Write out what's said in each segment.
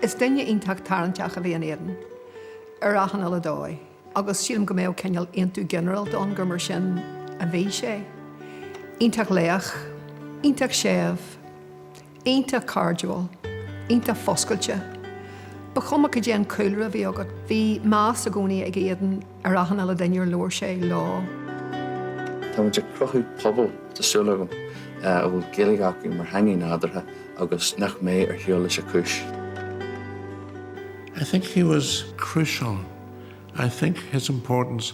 Is duine iontach tarraingteach a bhí in Aodán, ar achan uile dóigh, agus sílim go mbeadh cineál aontú ginearálta ann gur mar sin a bhí sé. Iontach lách, iontach séimh, Iontach cairdiúil. Iontach foscailte. Ba chuma cad é an cúlra a bhí agat, bhí meas i gcónaí ag Aodán ar achan uile duine ar labhair sé leo. Tá muid ag cruthú pobail, tá súil agam, a bhfuil Gaeilge acu mar theanga nádúrtha agus nach mbeidh ar shiúl leis a cúis. I think he was crucial. I think his importance.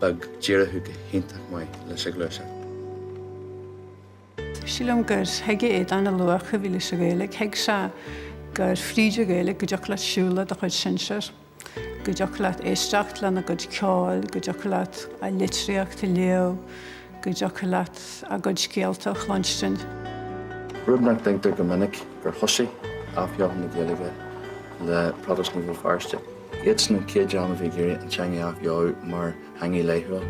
beag d'éirigh go hiontach maith leis an ghluaiseacht. Sílim gur thuig Aodán an luach a bhí leis an Ghaeilge. Thuig sé gur fríd an Ghaeilge go dtiocfadh leat siúl le do chuid sinsear, go dtiocfadh leat éisteacht lena gcuid ceoil, go dtiocfadh leat a litríocht a léamh, go dtiocfadh leat a gcuid scéalta a chluinstin. Rud nach dtuigtear go minic gur thoisigh athbheochan na Gaeilge le Protastúnaigh Bhéal Feirste. Iadsan na chéad daoine a bhí ag iarraidh an teanga a athbheochan mar theanga laethúil.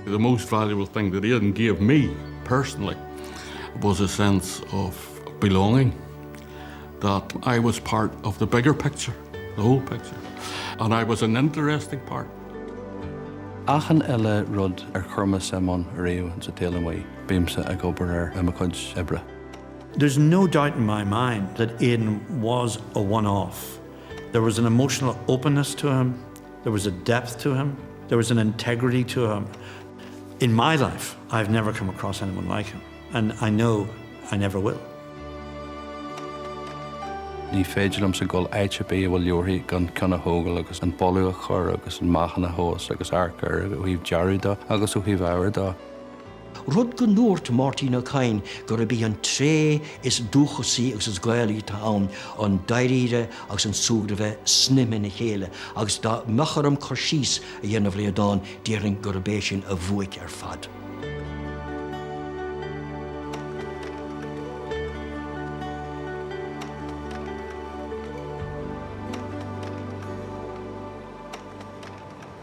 The most valuable thing that Aodán gave me personally was a sense of belonging, that I was part of the bigger picture, the whole picture, and I was an interesting part. Achan uile rud ar chuir mé suim ann ariamh sa tsaol amuigh, bímse ag obair air i mo chuid oibre. There's no doubt in my mind that Aodán was a one-off. There was an emotional openness to him, there was a depth to him, there was an integrity to him. In my life I have never come across anyone like him and I know I never will. Ní féidir liomsa dul áit ar bith a bhfuil leabharthaí gan ceann a thógáil agus an boladh a chur agus an meáchan a thomhas agus amharc air ó thaobh dearaidh dó agus ó thaobh ábhair dó. rud go ndúirt Máirtín Ó Cadhain gurb í an tréith is dúchasaí agus is Gaelaí atá ann, an dáiríre agus an súgradh bheith snaidhmthe ina chéile, agus dá mbeadh orm cur síos a dhéanamh ar Aodán, déarfainn gurb é sin a bhuaic ar fad.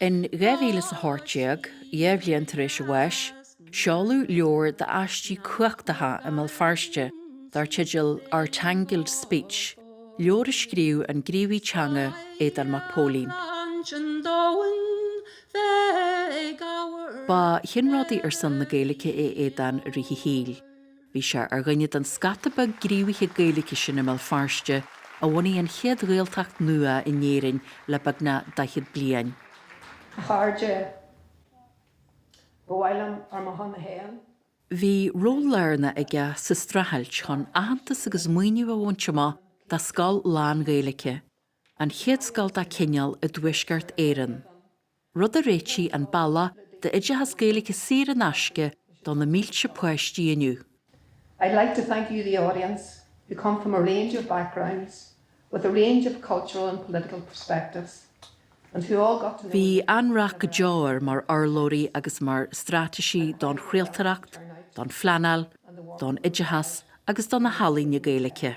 In 2018, dhá bhliain tar éis a bháis, seoladh leabhar d'aistí cumhachtacha i mBéal Feirste dar teideal Our Tangled Speech, leabhar a scríobh an gníomhaí teanga Aodán Mac Póilin. Ba cheannródaí ar son na Gaeilge é Aodán i rith a shaoil. Bhí sé ar dhuine den scata beag gníomhaithe Gaeilge sin i mBéal Feirste a bhunaigh an chéad Ghaeltacht nua in Éirinn le beagnach daichead bliain. A chairde, ba mhaith liom ar mo shon féin. Bhí ról lárnach aige sa streachailt chun aitheantas agus maoiniú a bhaint amach do scoil lán-Ghaeilge. an chéad scoil dá cineál i dTuaisceart Éireann, rud a réitigh an bealach d'oideachas Gaeilge saor in aisce do na mílte páistí inniu. I'd like to thank you the audience who come from a range of backgrounds with a range of cultural and political perspectives and who all got to know Bhí an-rath go deo air mar urlabhraí agus mar straitéisí don chraoltóireacht, don phleanáil, don oideachas agus do na healaíona Gaeilge.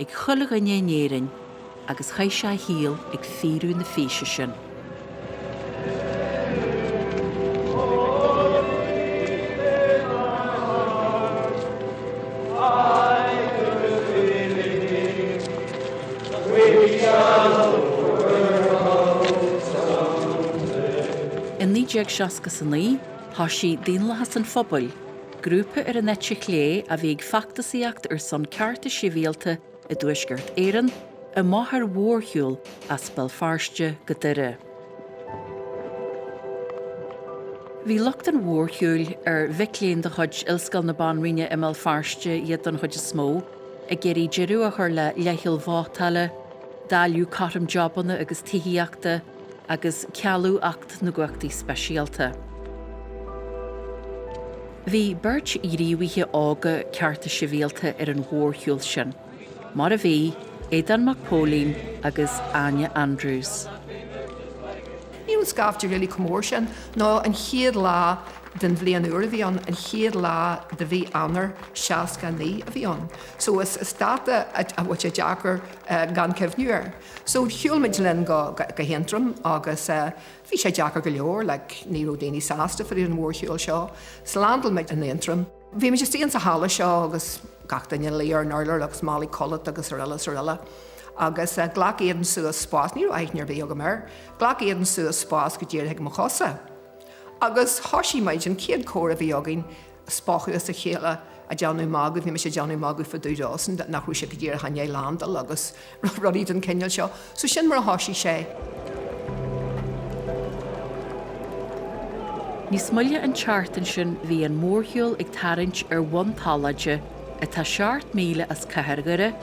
ag chuile dhuine in Éirinn agus chaith sé a shaol ag fíorú na físe sin. In 1969 thoisigh Daonlathas an Phobail, Grúpa ar an eite chlé a bhí ag feachtasaíocht ar son cearta sibhialta i dTuaisceart Éireann amach ar mhórshiúl as Béal Feirste go Doire. Bhí lucht an mhórshiúil, ar mhic léinn de chuid Ollscoil na Banríona i mBéal Feirste iad don chuid is mó, ag iarraidh deireadh a chur le leithcheal vótála, dáileadh cothrom jabanna agus tithíochta, agus cealú Acht na gCumhachtaí Speisialta. Bhí beirt ghníomhaithe óga cearta sibhialta ar an mhórshiúl sin, mar a bhí, Aodán Mac Póilín agus Áine Andrews. Ní raibh scaifte really chomh mór sin ná an chéad lá den bhliain úr a bhí ann, an chéad lá de mhí Eanáir 69 a bhí ann. So is dáta a bhfuil sé deacair gan cuimhniú air. So shiúl muid linn go hAontroim agus eh bhí sé deacair go leor like ní raibh daoine sásta fá dtaobh den mhórshiúl seo. So landáil muid in Aontroim. Bhí muid istigh insa halla seo agus gach duine ina luí ar an urlár agus málaí codlata agus araile is araile. Agus eh ghlac Aidan suas spás, ní raibh aithne ar bith agam air, ghlac Aidan suas spás go díreach ag mo chosa. Agus thoisigh muid, an chéad chomhrá a bhí againn, spochadh as a chéile a' déanamh magadh, bhí mise a' déanamh magadh fá dtaobh dósan nach raibh sé ach go díreach i ndéidh landáil agus rudaí den chineál seo. So sin mar a thoisigh sé. Níos moille an tseachtain sin bhí an mórshiúl ag tarraingt ar Bhun Tolaide, atá seacht míle as cathair Dhoire,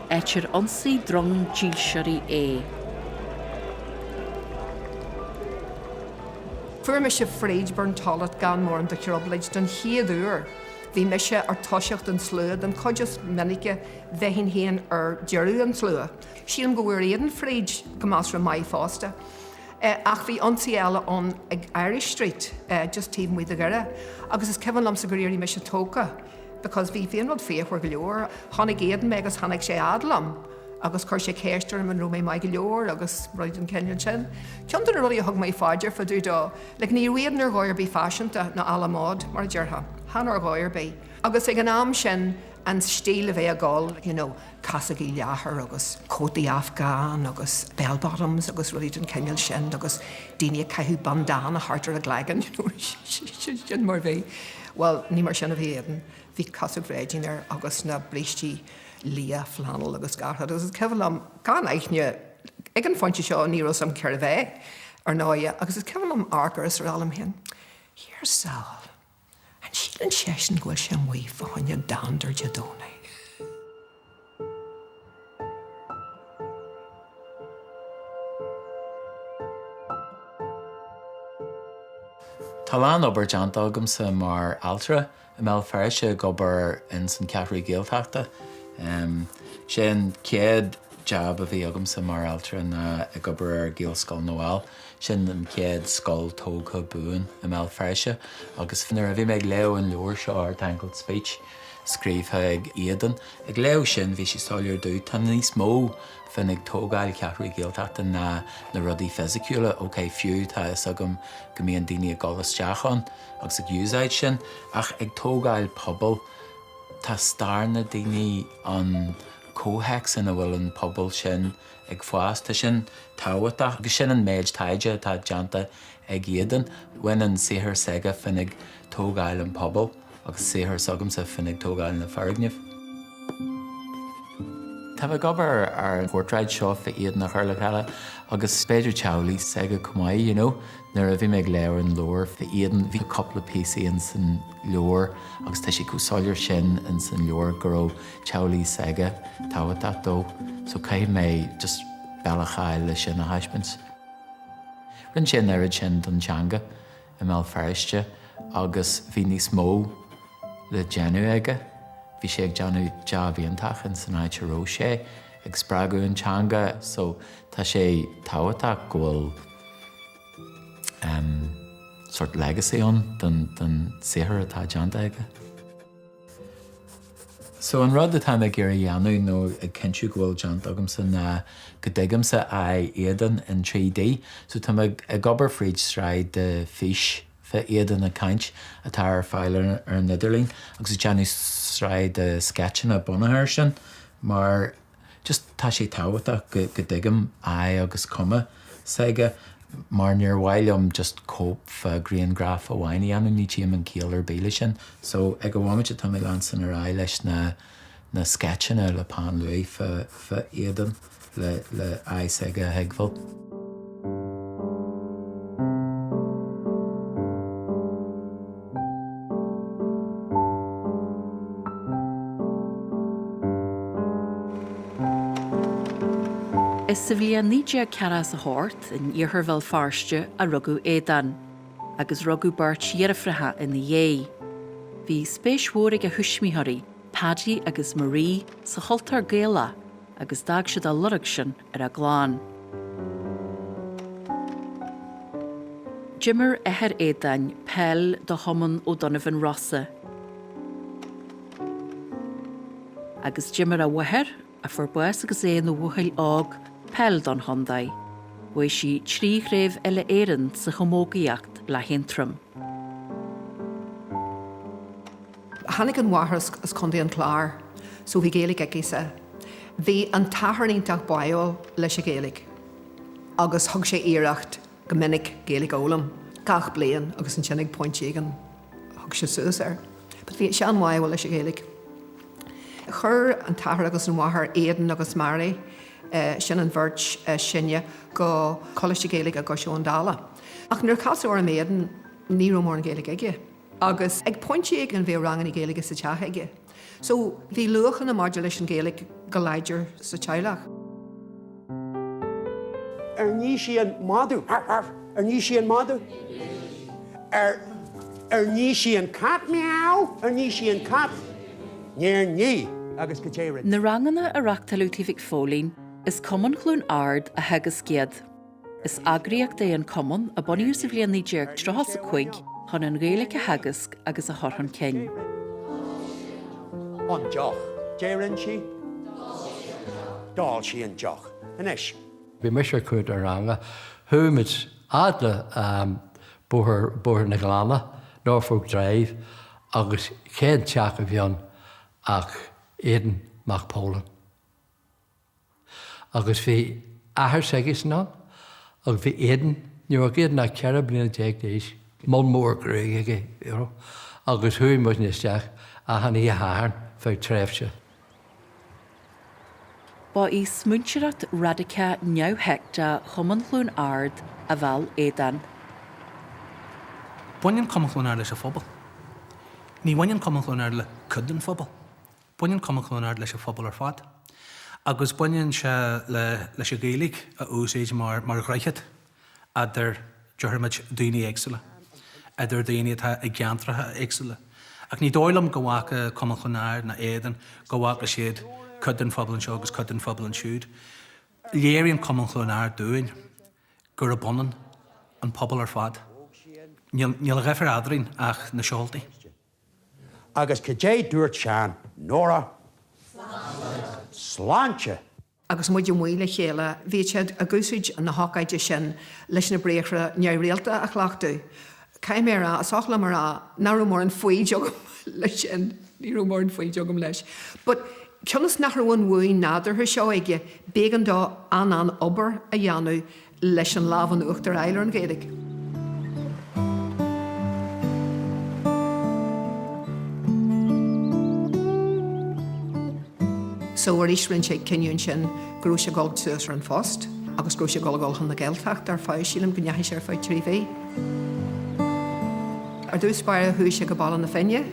áit ar ionsaigh drong dílseoirí é. Fuair mise fríd Burntollet gan mórán de thrioblóid don chéad uair. Bhí mise ar toiseacht an tslua den chuid is minice bheinn féin ar deireadh an tslua. Sílim go bhfuair Aodán fríd go measartha maith fosta. Ach bhí ionsaí eile ann ag Irish Street just taobh amuigh de Dhoire agus is cuimhin liomsa gur éirigh mise tógtha because bhí an rud fíochmhar go leor. Chonaic Aodán mé agus tháinig sé a fhad liom agus chuir sé ceist orm an raibh mé maith go leor agus rudaí den chineál sin. Ceann de na rudaí a thug mé fá dear fá dtaobh dó, like ní raibh Aodán ar dhóigh ar bith faiseanta ná à la mode, mar a déarfá, chan ar dhóigh ar bith. Agus ag an am sin, an stíl a bhí ag dul, you know, casógaí leathair agus cótaí Afghan agus bell bottoms agus rudaí den chineál sin agus daoine ag caitheamh bandana thart ar a gcloigeann, you know, sin mar a bhí. Bhuel, ní mar sin a bhí Aodán, bhí casóg bhréidín air agus na brístí. liatha flannel agus hata agus is cuimhin liom gan aithne ag an phointe seo ní raibh 's a'm cérbh é, ar ndóighe, agus is cuimhin liom amharc air is rá liom féin, Here's Saul, an síleann seisean go bhfuil sé amuigh fá choinne dander Dé Domhnaigh? Tá a lán obair déanta agamsa mar ailtire i mBéal Feirste ag obair ins an Cheathrú Ghaeltachta. Sé an chéad jab a bhí agamsa mar ailtire ná ag obair ar Ghaelscoil na bhFál. Sin an chéad scoil tógtha buan i mBéal Feirste agus nuair a bhí mé ag léamh an leabhair seo, Our Tangled Speech, scríobhtha ag Aodán, ag léamh sin bhí sé soiléir domh tá níos mó faoin ag tógáil Cheathrú Ghaeltachta ná na rudaí fisiciúla, ok fiú tá 'fhios agam go mbíonn daoine ag dul isteach ann agus ag úsáid sin ach ag tógáil pobal tá stair na daoine, an comhthéacs ina bhfuil an pobal sin ag fás, tá sin tábhachtach agus sin an méid taighde atá déanta ag Aodán. Bhain an saothar s'aige faoin ag tógáil an pobal agus saothar s'agamsa faoin ag tógáil na foirgnimh. Táim ag obair ar an portráid seo faoi Aodán a chur le chéile agus b'fhéidir teaghlaigh s'aige chomh maith, you know. Nuair a bhí mé ag léamh ar an leabhar faoi Aodán bhí cúpla píosaí in san leabhar agus tá sé chomh soiléir sin in san leabhar go raibh teaghlaigh s'aige tábhachtach dó so caithfidh mé just bealach a fháil le sin a thaispeáint. Rinne sé an oiread sin don teanga. i mBéal Feirste agus bhí níos mó le déanamh aige. Bhí sé ag déanamh jab iontach in san áit a raibh sé, ag spreagadh an teanga so tá sé tábhachtach go bhfuil sort legacy ann don saothar atá déanta aige. So, an rud atáim ag iarraidh dhéanamh, nó ag cinntiú go bhfuil déanta agamsa, ná go dtuigimse aghaidh Aodáin in 3D. So, táim ag ag obair fríd sraith de fís fá Aodán ag caint atá ar fáil ar an idirlíon agus ag déanamh sraith de sceitseanna bunaithe ar sin mar, just tá sé tábhachtach go go dtuigim aghaidh agus cuma s'aige mar níor mhaith liom just cóip fá ghriangraf amháin a dhéanamh ní tchím aon chiall ar bith le sin so ag an mhóimint atá mé ag leanstan ar aghaidh leis na na sceitseanna le peann luaidh fá fá Aodán le le aghaidh s'aige a thuigbheáil. Is sa bhliain 1948, in iarthar Bhéal Feirste, a rugadh Aodán, agus rugadh beirt dheirfiúracha ina dhiaidh. Bhí spéis mhór ag a thuismitheoirí, Paddy agus Marie, sa chultúr Gaelach agus d'fhág siad a lorg sin. ar a gclann. D'imir athair Aodáin peil do Chumann O'Donovan Rossa agus d'imir a mháthair, a fuair bás agus é ina bhuachaill óg, peil don chontae. Bhuaigh sí trí chraobh Uile-Éireann sa chamógaíocht le hAontroim. Tháinig an mháthair as Contae an Chláir so bhí Gaeilge aicise. Bhí an t-athair iontach báiúil leis an Ghaeilge agus thug sé iarracht go minic Gaeilge a fhoghlaim gach bliain agus ansin ag pointe éigin thug sé suas air but bhí sé an-bháiúil leis an Ghaeilge. Chuir an t-athair agus an mháthair, Aidan agus Mary, sin an bheirt sine go Coláiste Gaeilge i gCois Abhann Dalla. Ach nuair a casadh orm Aodán ní raibh mórán Gaeilge aige. agus ag pointe éigin bhíodh ranganna Gaeilge sa teach aige so bhí luachanna maidir leis an Ghaeilge go láidir sa teaghlach. Ar nigh sí an madadh? Arf! Arf! Ar nigh sí an madadh? Ar Ar nigh sí an cat? Meow! Ar nigh sí an cat? Níor nigh! Agus caidé a rinne? Na ranganna a reachtáileadh tigh Mhic Póilin, is Cumann Chluain Ard a theagasc iad. Is eagraíocht é an Cumann a bunaíodh sa bhliain 1935 chun an Ghaeilge a theagasc agus a chur chun cinn. an deoch. Deireann sí D'ól sí an deoch. Anois. bhí mise ar cuid an ranga, chuaigh muid fhad le bóthar, Bóthar an Ghleanna, Norfolk Drive, agus cén teach a bhí ann ach Aodán Mac Póilin. agus bhí athair s'aigesean ann agus bhí Aodán, ní raibh Aodán ach ceithre bliana déag d'aois, mol mór gruaige aige, you know, agus chuaigh muidne isteach achan oíche Shathairn feadh tréimhse. Ba í smaointeoireacht radicach neamhsheicteach Chumann Chluain Ard a mheall Aodán. Baineann Cumann Chluain Ard leis an phobal. Ní bhaineann Cumann Chluain Ard le cuid den phobal. Baineann Cumann Chluain Ard leis an phobal ar fad agus baineann sé leis an Ghaeilge a úsáid mar dhroichead eadar déarfaimid daoine éagsúla, eadar daoine atá i gceantracha éagsúla. Ach ní dóigh liom go bhfaca Cumann Chluain Ard ná Aodán go bhfaca siad cuid den phobal anseo agus cuid den phobal ansiúd. Léiríonn Cumann Chluain Ard dúinn gurb ionann an pobal ar fad. Níl de dhifear eadrainn ach na seoltaí. Agus caidé dúirt Seán, Nóra? Sláinte. Sláinte! Agus muid amuigh le chéile, bhíodh siad ag úsáid na hócáide sin leis na briathra neamhrialta a chleachtadh. Caithfidh mé a rá, is oth liom a rá, nach raibh mórán foighid agam leis sin. Ní raibh mórán foighid agam leis. But cionn is nach raibh an bhuaidh nádúrtha seo aige, b'éigean dó an-an-obair a dhéanamh. leis an lámh in uachtar a fháil ar an Ghaeilge. So arís rinne sé cinneadh ansin go raibh sé ag dul suas ar an phost agus go raibh sé ag dul a dhul chun na Gaeltachta ar feadh, sílim go ndeachaigh sé ar feadh trí mhí. Ar dtús báire chuaigh sé go Baile na Finne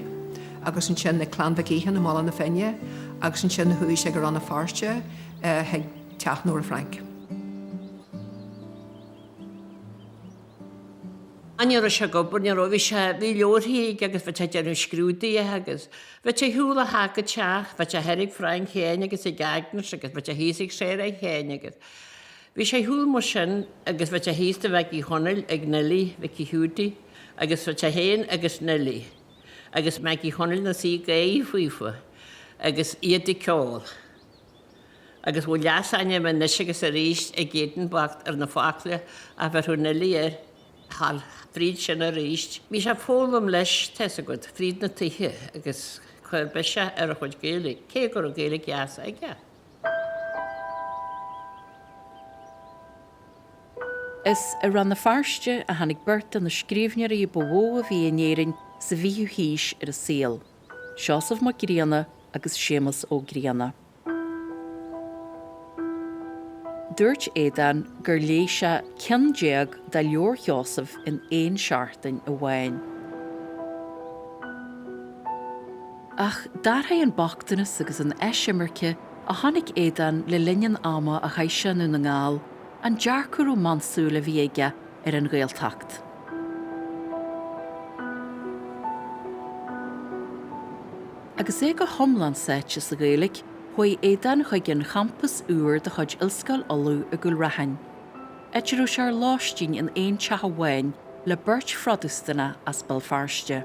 agus ansin ag Clann Mhic Aodha i mBaile na Finne agus ansin chuaigh sé go Rann na Feirste chuig Teach Nóra Frainc. Ní raibh sé ag obair, ní raibh, bhí sé, bhí leabharthaí aige agus bhí sé ag déanamh scrúduithe agus bhí sé ag siúl ó theach go teach, bhí sé thoir ag Frainc féin agus ag Agnes agus bhí sé thíos ag Sarah féin agus bhí sé ag siúl mar sin agus bhí sé thíos toigh Mhaggie Chonaill ag Neilí Mhicí Hiúdaí agus bhí sé féin agus Neilí agus Maggie Chonaill ina suí ag Gaeil faofa agus iad ag ceol. agus bhí leasainm anois agus arís ag Aodán bocht ar na focla a bhéarfadh Neilí air thall. Fríd sin arís, bhí sé ag foghlaim leis, tá's agat, fríd na tithe agus chuir biseach ar a chuid Gaeilge, cé go raibh Gaeilge dheas aige. Is i Rann na Feirste a tháinig beirt de na scríbhneoirí ba mhó a bhí in Éirinn sa bhfichiú haois ar an saol. Seosamh Mac Grianna agus Séamus Ó Grianna. Dúirt Aodán gur léigh sé ceann déag de leabhair Sheosaimh in aon seachtain amháin. Ach d'athraigh an bochtanas agus an eisimirce a chonaic Aodán le linn an ama a chaith sé i nDún na nGall an dearcadh rómánsúil a bhí aige ar an Ghaeltacht. Agus é go hiomlán sáite sa Ghaeilge, chuaigh Aodán chuig an champas úr de chuid Ollscoil Uladh i gCúil Raithin, áit a raibh sé ar lóistín in aon teach amháin le beirt Phrotastúnach as Béal Feirste.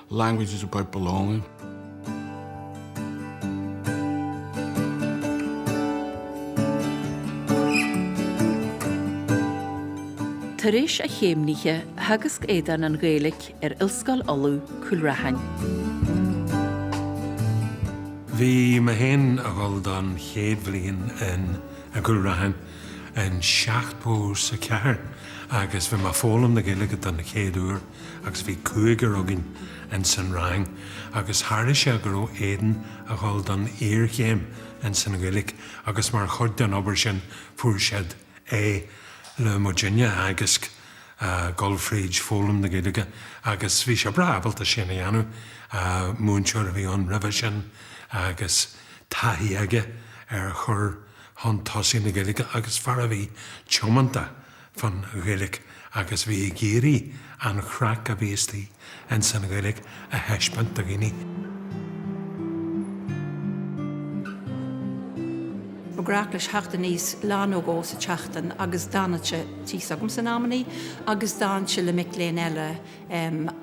Language is about belonging. Tar éis a chéimnithe, theagasc Aodán an Ghaeilic ar Ollscoil Uladh, Cúil Raithin. Bhí mé féin a dhul don chéad bhliain in i gCúil Raithin in seachtó 's a ceathair agus bhí mé a foghlaim na Gaeilge don chéad uair. agus bhí cúigear againn ins an rang agus tharlaigh sé go raibh Aodán a dhul don iarchéim ins an Ghaeilge agus mar chuid den obair sin fuair siad é le muidinne a theagasc dul fríd foghlaim na Gaeilge agus bhí sé breá ábalta sin a dhéanamh, múinteoir a bhí ann roimhe sin agus taithí aige ar chur chun tosaigh na Gaeilge agus fear a bhí tiomanta fán Ghaeilge agus bhí ag iarraidh an chraic a bhí istigh ins an Ghaeilge a thaispeáint do dhaoine. Ba ghnách leis a theacht aníos, lá nó dhó sa tseachtain agus d'fhanadh sé thíos agamsa in amannaí agus d'fhanadh sé le mic léinn eile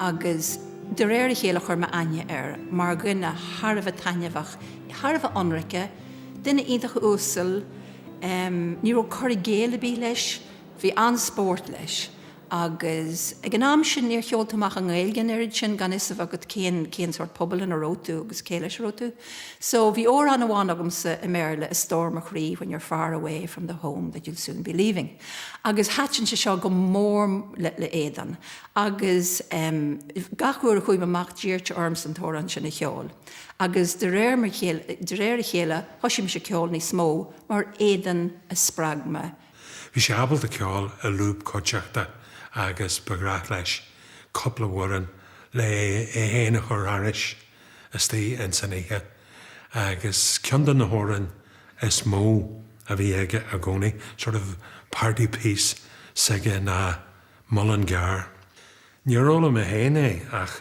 agus de réir a chéile chuir mé aithne air mar dhuine thar a bheith taitneamhach, thar a bheith ionraice, duine iontach uasal. Ní raibh cur i gcéill ar bith leis, bhí an-spórt leis agus ag an am sin níor cheol tú amach i nGaeilge an oiread sin gan fhios a bheith agat cén, cén sórt pobail ina raibh tú agus cé leis a raibh tú. So, bhí amhrán amháin agamsa i mBéarla, A Stór mo Chroí, When you're far away from the home that you'll soon be leaving agus thaitin sé seo go mór le, le Aodán agus gach uair a chuaigh mé amach d'iarradh sé ormsa an t-amhrán sin a cheol. agus de réir a chéile, de réir a chéile, thoisigh mise ceol níos mó mar Aodán a spreag mé. Bhí sé ábalta ceol i lúb cuideachta agus ba ghnách leis cúpla amhrán le é féin a chur thairis istigh ins an oíche agus ceann de na hamhráin is mó a bhí aige i gcónaí, sort of party piece s'aige ná Mullingar. Níor fhoghlaim mé féin é ach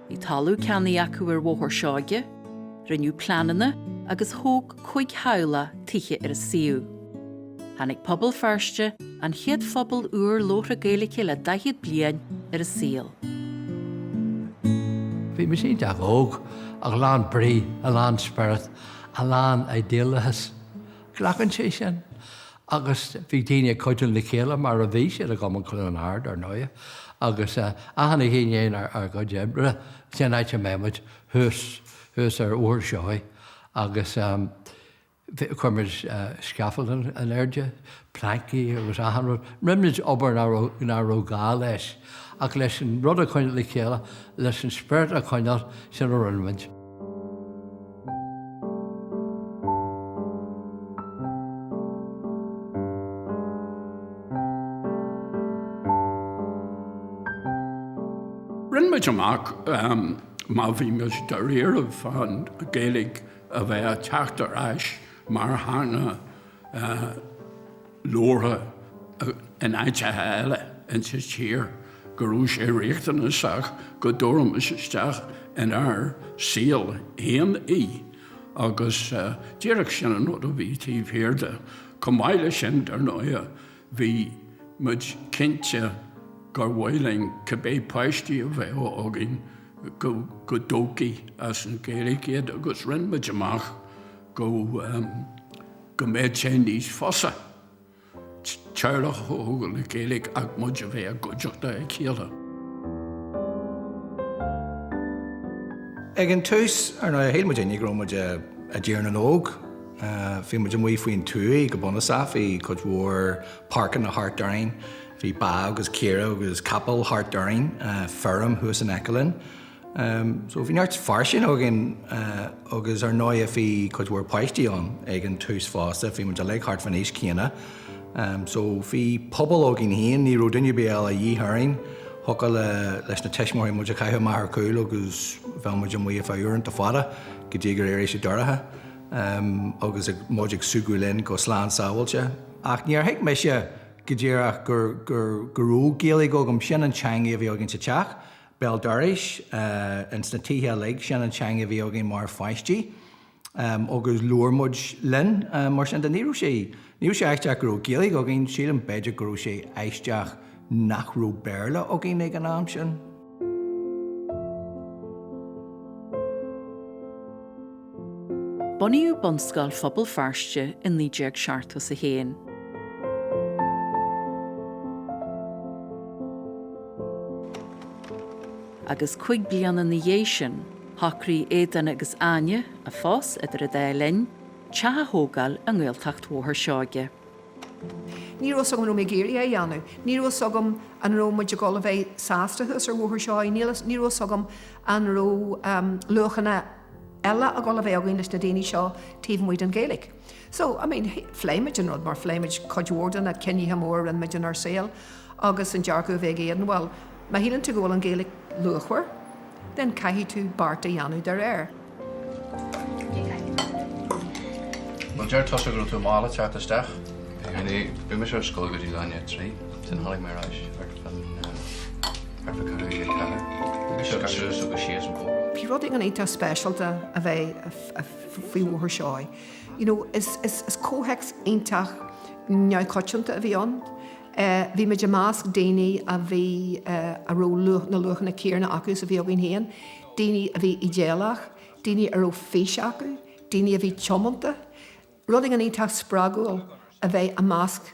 Bhí talamh ceannaithe acu ar Bhóthar Seoighe, rinneadh pleananna agus thóg cúig theaghlach tithe ar an suíomh. Tháinig Pobal Feirste, an chéad phobal úr labhartha Gaeilge le daichead bliain, ar an saol. Bhí mise iontach óg, ach lán brí, lán spiorad, lán idéalachais. Glacann sé sin. agus bhí daoine ag cuidiú le chéile mar a bhí siad i gCumann Chluain Ard, ar ndóighe, agus achan duine i ndiaidh ár gcuid oibre sin an áit a mbeadh muid, thuas, thuas ar Bhóthar Seoighe agus chuir muid scaffolding in airde, pleaincí agus achan rud, rinne muid obair ná raibh, ná raibh gá leis ach leis an rud a choinneáil le chéile, leis an spiorad a choinneáil, sin a rinne muid. Rinn muid amach má bhí muid dáiríribh fán Ghaeilg a bheith a' teacht ar ais mar theanga labhartha in áiteacha eile insa tír go raibh sé riachtanasach go dtabharfaimis isteach inár saol féin í agus díreach sin an rud a bhí taobh thiar de. Chomh maith leis sin, dar ndóighe, bhí muid cinnte gur mhaith linn cibé páistí a bheadh againn go dtógfaí as an Ghaeilge iad agus rinne muid amach, go mbeadh sé níos fusa teaghlach a thógáil le Gaeilge ach muid a bheith i gcuideachta a chéile. Ag an tús, ar ndóigh, shíl muid uilig go raibh muid i dTír na nÓg. Bhí muid amuigh faoin tuaith go bunúsach, bhí cuid mhór páirceanna thart orainn, bhí ba agus caoirigh agus capaill thart orainn, feirm thuas in aice linn. Bhí neart fairsinge againn agus ar ndóighe bhí cuid mhór páistí ann ag an tús fosta, bhí muid uilig thart fán aois chéanna so bhí pobal againn féin, ní raibh duine ar bith eile a dhíth orainn. Thiocfadh leis na tuismitheoirí muid a chaitheamh amach ar chúl agus bheadh muid amuigh ar feadh uaireanta fada go dtí gur éirigh sé dorcha agus muid ag súgradh linn go slán sábháilte. Ach níor thuig mise go díreach go raibh Gaeilge agam, sin an teanga a bhí againn sa teach. béal dorais, ins na tithe uilig. Sin an teanga a bhí againn mar pháistí agus labhair muid linn mar sin de. Ní raibh sé, ní raibh sé aisteach go raibh Gaeilge againn, sílim b'fhéidir go raibh sé aisteach nach raibh Béarla againn ag an am sin. Bunaíodh Bunscoil Phobal Feirste i naoi déag seachtó 's a haon. agus cúig bliana ina dhiaidh sin, shocraigh Aodán agus Áine, a phós idir a dá linn, teach a thógáil i nGaeltacht Bhóthar Seoige. Ní raibh 's agam an raibh mé ag iarraidh é a dhéanamh. Ní raibh 's agam an raibh muid ag dul a bheith sásta thuas ar Bhóthar Seoighe. Níl, ní raibh 's agam an raibh luachanna. eile ag dul a bheith againn leis na daoine seo taobh amuigh den Ghaeilge. So, I mean, phléigh muid an rud mar phléigh muid cuid mhór de na cinntí móra a rinne muid inár saol agus an dearcadh a bhí ag Aodán, bhuel, má shíleann tú go bhfuil an Ghaeilge luachmhar, then caithfidh tú beart a dhéanamh de réir. Bhuel, deir tusa go raibh tú mall ag teacht isteach. Bhí mé ar scoil go dtí leath i ndiaidh a trí, then tháinig mé ar ais ar an. Bhí rud éigin iontach speisialta a bheith faoi Bhóthar Seoighe. You know, is, is, is comhthéacs iontach neamhchoitianta a bhí ann. Eh, bhí muid i measc daoine a bhí eh, a raibh luach, na luachanna céanna acu is a bhí againn féin, daoine a bhí idéalach, daoine a raibh fís acu, daoine a bhí tiomanta. Rud éigin iontach spreagúil a bheith i measc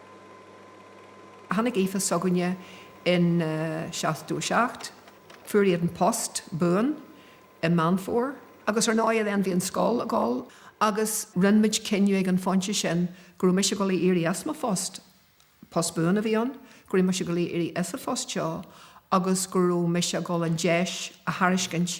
Tháinig Aoife s'againne in 77, fuair Aodán post buan i Meán Fómhair agus ar ndóigh then bhí an scoil ag dul agus rinne muid cinneadh ag an phointe sin go raibh mise ag dul a éirí as mo phost, post buan a bhí ann, go raibh mise ag dul a éirí as an phost seo agus go raibh mise ag dul an deis a thairiscint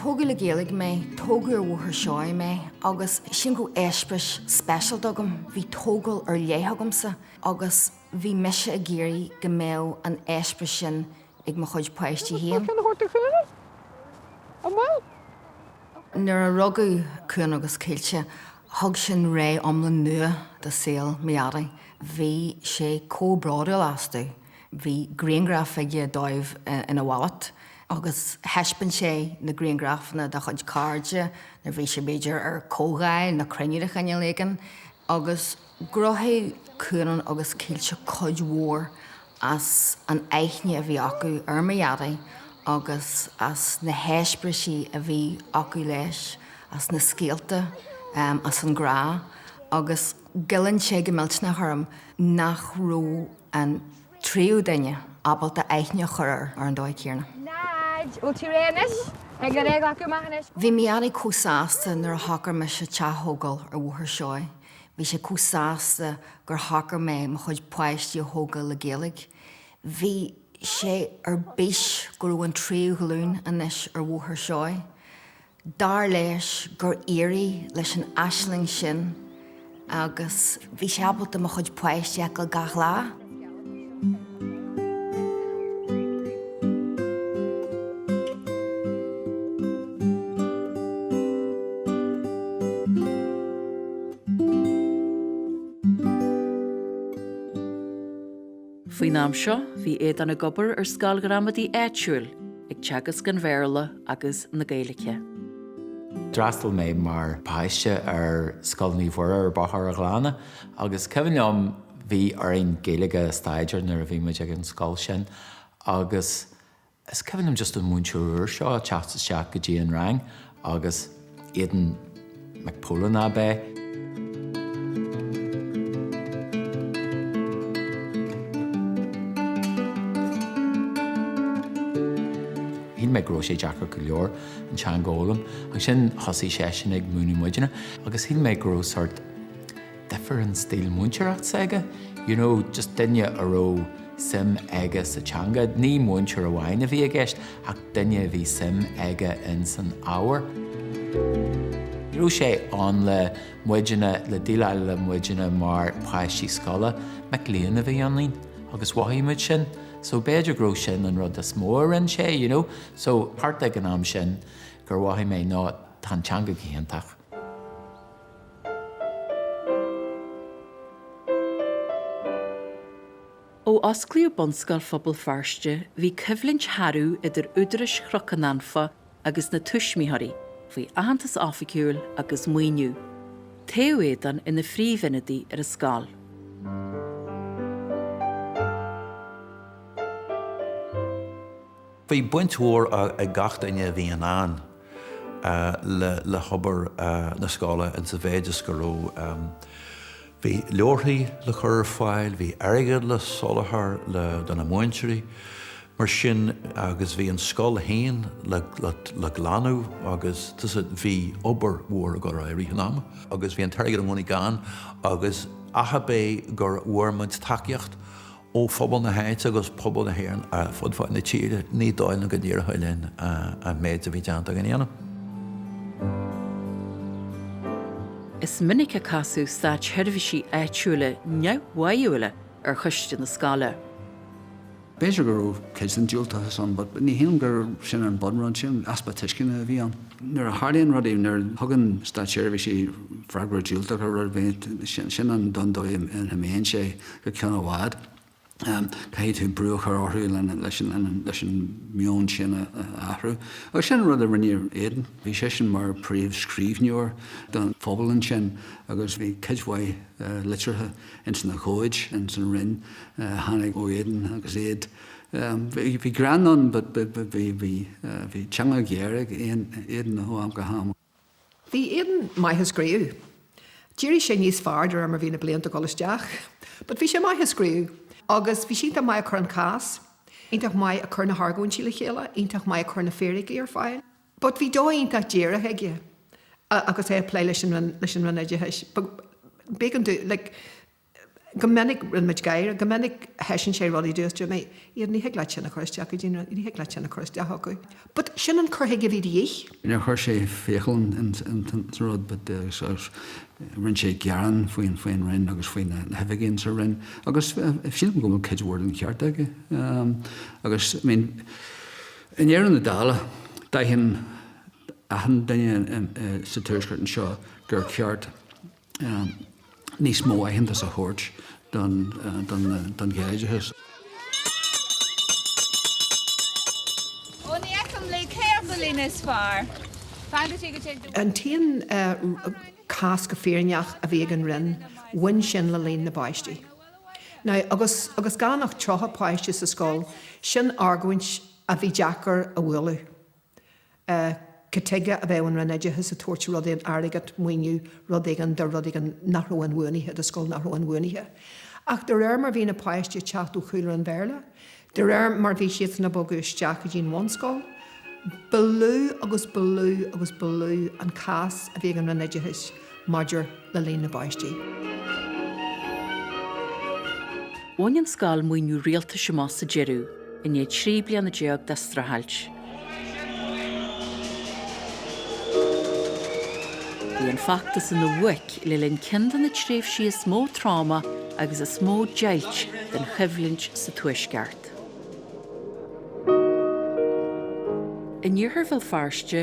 Tógadh le Gaeilge mé, tógadh ar Bhóthar Seoighe mé agus sin go eispéireas speisialta agam. Bhí tógáil ar leith agamsa agus bhí mise ag iarraidh go mbeadh an eispéireas sin ag mo chuid páistí féin. Nuair a rugadh Cuan agus Caoilte Thug sin ré iomlán nua do shaol mo dhaidí. Bhí sé chomh bródúil astu. Bhí grianghraif aige dóibh ina wallet agus thaispeáin sé na grianghrafanna dá chuid cairde nuair a bhí sé b'fhéidir ar comhdháil nó cruinniú de chineál éigin agus ghnóthaigh Cuan agus Caoilte cuid mhór as an aithne a bhí acu ar mo Dhaidí agus as na heispéirisí a bhí acu leis, as na scéalta, as an ghrá agus goilleann sé go millteanach orm nach raibh an tríú duine ábalta aithne a chur air ar an dóigh chéanna. Nod, Bhfuil tú réidh anois? Beidh a réidh acu amach anois. Bhí mo Dhaidí chomh sásta nuair a shocair mise teach a thógáil ar Bhóthar Seoighe. Bhí sé chomh sásta gur shocair mé mo chuid páistí a thógáil le Gaeilge. Bhí sé ar bís go raibh an tríú glúin anois ar Bhóthar Seoighe. Dar leis gur éirigh leis an aisling sin agus bhí sé ábalta mo chuid páistí a fheiceáil gach lá. Faoin am seo, bhí Aodán ag obair ar scoil ghramadaí áitiúil, ag teagasc an Bhéarla agus na Gaeilge. D'fhreastail mé mar pháiste ar Scoil Naomh Mhuire ar Bhóthar a' Ghleanna agus cuimhin liom Bhí orainn Gaeilge a staidéar nuair a bhí muid ag an scoil sin agus is cuimhin liom just an múinteoir úr seo a teacht isteach go dtí an rang agus Aodán Mac Póilin ab é. Shíl mé go raibh sé deacair go leor an teanga a fhoghlaim agus sin thosaigh seisean ag múineadh muidinne agus shíl mé go raibh sort, different style múinteoireacht s'aige, you know just duine a raibh suim aige sa teanga, ní múinteoir amháin a bhí i gceist ach duine a bhí suim aige in san ábhar. Ní raibh sé ann le muidinne, le déileáil le muidinne mar páistí scoile, mic léinn a bhí ionainn agus mhothaigh muid sin so b'fhéidir go raibh sin an rud is mó a rinne sé, you know. So thart ag an am sin gur mhothaigh mé ná tá an teanga go hiontach. Ó osclaíodh Bunscoil Phobal Feirste bhí coimhlint shearbh idir údarais Chnoc an Anfa agus na tuismitheoirí faoi aitheantas oifigiúil agus maoiniú. Toghadh Aodán ina phríomhionadaí ar an scoil. Bhí baint mhór ag gach duine a bhí ann le hobair na scoile insa mhéid is go raibh, bhí leabharthaí le cur ar fáil, bhí airgead le soláthar do na múinteoirí, mar sin, agus bhí an scoil féin le glanadh agus tá's agat, bhí obair mhór ag dul ar aghaidh i rith an ama. Agus bhí an t-airgead i gcónaí gann agus ach ab é gur bhfuair muid tacaíocht ó phobal na háite agus pobal na hÉireann ar fud fad na tíre, ní dóigh liom go dtiocfadh linn an méid a bhí déanta againn a dhéanamh. Is minic a casadh státseirbhísigh áitiúla neamhbháúla ar choiste na scoile. B'fhéidir go raibh cuid den diúltachas ann, but ní shéanaim gur sin an bunrud, sin an easpa tuisceana a bhí ann. Nuair a tharlaíonn rudaí, nuair a thugann státseirbhísigh freagra diúltach ar rud ar bith, sin an, an dóigh a n-imíonn sé. go ceann i bhfad. Caithfidh tú brú a chur orthu leis an meon sin a athrú. Agus sin an rud a rinne Aidan. Bhí seisean mar príomh scríbhneoir don phobal ansin agus bhí cuid mhaith litreacha ins na comhaid, ins an Roinn, a tháinig ó Aidan agus iad, bhí greann ann but bhí, bhí teanga ghéar ag Aidan ó am go ham. Bhí Aidan maith ag scríobh. D'éirigh sé níos fearr de réir mar bhí na blianta ag dul isteach. But bhí sé maith ag scríobh. Agus bhí sé iontach maith ag cur an cás, iontach maith ag cur na hargóintí le chéile, iontach maith ag cur na fíricí ar fáil. But bhí dóigh iontach díreach aige agus é ag plé leis an Roinn Oideachais. B'éigean dó, like. go minic, rinne muid gáire, go minic thaispeáin sé rudaí, dúirt mé, Aidan, ní thig leat sin a chur isteach go dtí na, ní thig leat sin a chur isteach acu but sin an cur chuige a bhí de dhíth. Níor chuir sé fiacail ins an rud but agus rinne sé gearán faoin, faoin Roinn agus faoi na hoifigigh ins an Roinn agus sílim go bhfuil cuid mhór den cheart aige agus I mean i ndeireadh na dála d'aithin achan duine sa Tuaisceart anseo gur cheart níos mó aitheantas a thabhairt don Ghaeloideachas. An t-aon cás go fírinneach a bhí ag an Roinn, bhain sin le líon na bpáistí. Now agus agus gan ach 30 páiste sa scoil, sin argóint a bhí deacair a bhualadh. cad chuige a bheadh an Roinn Oideachais ag tabhairt rud éigin, airgead, maoiniú, rud éigin do rud éigin nach raibh inbhuanaithe, do scoil nach raibh inbhuanaithe. Ach de réir mar bhí na páistí ag teacht ó chúlra an Bhéarla, de réir mar bhí siadsan ag bogadh isteach go dtí an bhunscoil, ba lú agus ba lú agus ba lú an cás a bhí ag an Roinn Oideachais. maidir le líon na bpáistí. Bhain an scoil maoiniú rialtais amach sa deireadh, i ndiaidh trí bliana déag de streachailt. Bhí an feachtas ina bhuaic le linn ceann de na tréimhsí is mó tráma agus is mó deighilt den choimhlint sa Tuaisceart. In iarthar Bhéal Feirste,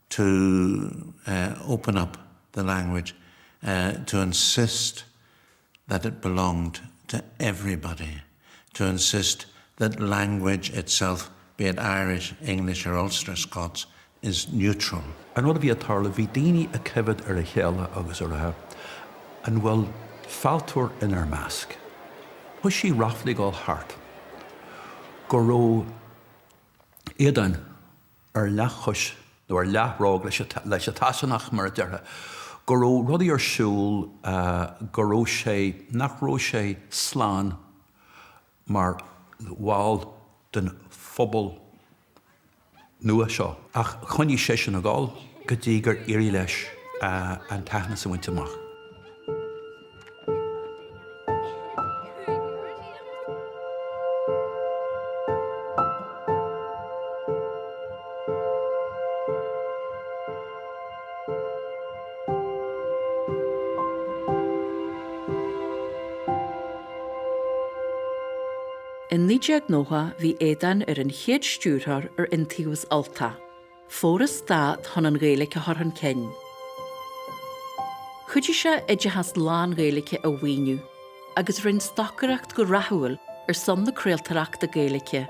to open up the language, to insist that it belonged to everybody, to insist that language itself, be it Irish, English or Ulster Scots, is neutral. An rud a bhí ag tarlú, bhí daoine ag coimhead ar a chéile agus ag rá, An bhfuil fealltóir inár measc? Thoisigh ráflaí ag dul thart go raibh Aodán ar leathchois nó ar leathbhróg leis an tSasanach, mar a déarfá, go raibh rudaí ar siúl go raibh sé, nach raibh sé slán mar bhall den phobal nua seo. Ach choinnigh seisean a ghol go dtí gur éirigh leis an t-aitheanas a bhaint amach. I 1990 bhí Aodán ar an chéad stiúrthóir ar Iontaobhas Ultach. Foras Stát chun an Ghaeilge a chur chun cinn. Chuidigh sé oideachas lán-Ghaeilge a mhaoiniú agus rinne stocaireacht go rathúil ar son na craoltóireachta Gaeilge,